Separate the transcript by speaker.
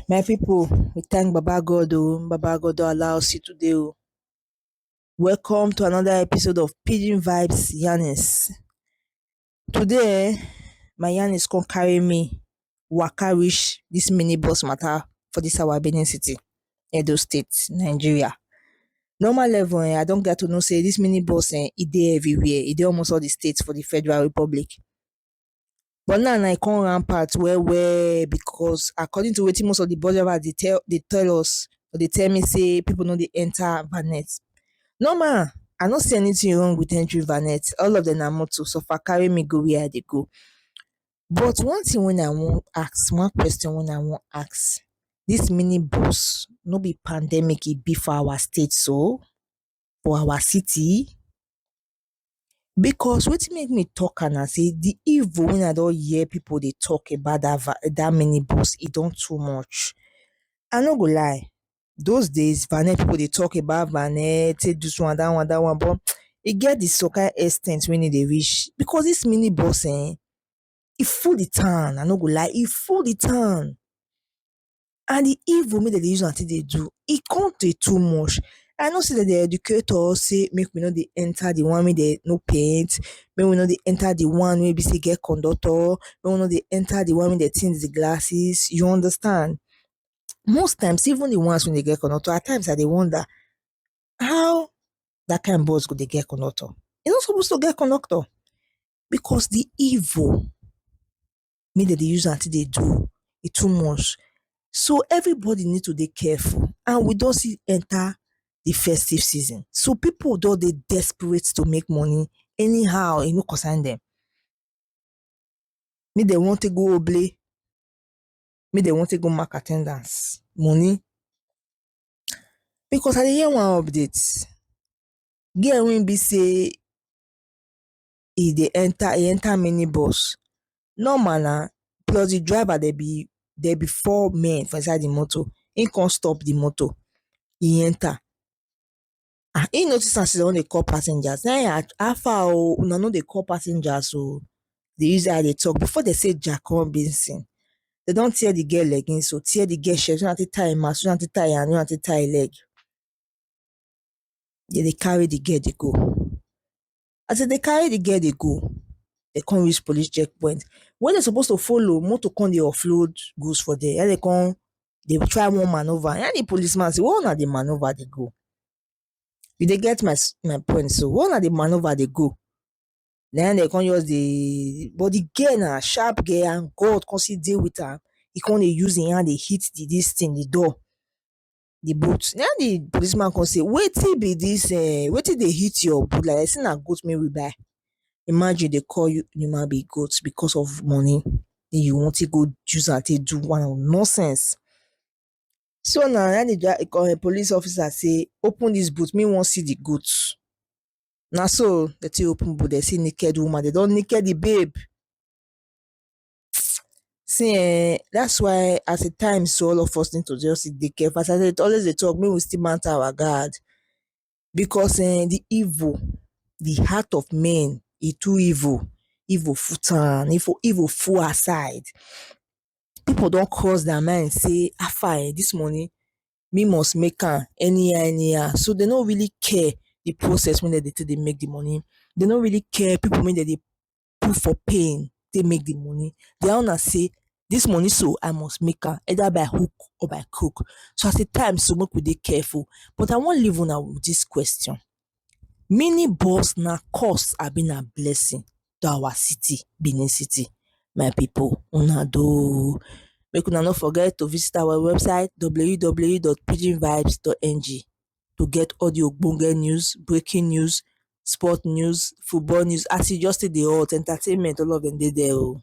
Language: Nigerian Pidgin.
Speaker 1: My people, we thank Baba God oh, Baba God don allow us see today oh. Welcome to another episode of Pidgin Vibes Yarnings. Today um my yanis come carry me waka reach dis mini bus matter for dis our Benin city, Edo state, Nigeria. Normal level um I don gat to know sey dis mini bus um e dey everywhere, e dey almost all de state for de Federal Republic. But now e come rampant well well because according to wetin most of de bus drivers dey tell dey tell us, dey tell me sey pipu no dey enter bonnet. Normal, I no see anything wrong with entry vanet all of dem na motor so far carry me go where I dey go but one thing wey I wan ask one question wey I wan ask this mini bus no be pandemic e be for our state so? for our city? because wetin make me talk am na sey the evil wey I don hear people dey talk about that van that mini bus e don too much I no go lie those days na net people dey talk about na net take do this one that one that one but e get the some kind ex ten t wey no dey reach because this mini bus um e full the town i no go lie e full the town and the evil wey dem dey use am take dey do e come dey too much i know say dem dey educate us say make we no dey enter the one wey dem no paint make we no dey enter the one wey be say e get conductor make we no dey enter the one wey dem tint the glasses you understand most times even the ones wey dey get conductor at times i dey wonder how that kind bus go dey get conductor e no suppose to get conductor because the evil wey dem dey use am take dey do e too much so everybody need to dey careful and we don still enter the festive season so people don dey desperate to make money anyhow e no concern dem make dem wan take go oble make dem wan take go mark at ten dance money because I dey hear one update, girl wey e be sey e dey enter e enter mini bus normal na plus de driver dem be dem be four men for inside de motor, im come stop de motor e enter. ah he notice as he don dey call passengers na him how far oh una no dey call passengers oh dey use eye dey talk before dem say ja come basin dem don tear the girl leggings oh tear the girl shirt use am take tie him mouth use am take tie him hand use am take tie him leg dem dey carry the girl dey go As dem dey carry the girl dey go, dem con reach police check point. When dem suppose to follow, motor con dey offload goods for dere. Na im dem con dey try wan manoeuvre. Na im the police man say where huna dey manoeuvre dey go? You dey get my my point so. Where huna dey manoeuvre dey go? Na im dem con just dey but the girl na sharp girl and God con still dey with am. E con dey use im hand dey hit the dis thing, the door. the boot na im the policeman come say wetin be this eh wetin dey hit your boot like that say na goat wey we buy imagine dey call you human being goat because of money wey you wan take go use am take do one or nonsense so na na im the um police officer say open this boot me wan see the goat na so dey take open boot dey see naked woman dey don naked the babe See um that's why at a time so all of us need to just dey careful as I dey always dey talk make we still mount our guard because um the evil the heart of men e too evil, evil full town evil full outside people don cross their mind sey how far um this money me must make am anyhow anyhow so dey no really care the process wey dem dey take dey make the money dey no really care people wey dem dey put for pain take make the money. Their own na sey dis money so I must make am either by hook or by crook. So as e time so make we dey careful. But I wan leave una with dis question, mini bus na curse abi na blessing to our city Benin city? My people una do oo. Make una no forget to visit our website www.pidginvibes.ng. to get all the ogbonge news, breaking news, sport news, football news as e just take dey hot, entertainment all of dem dey there oh.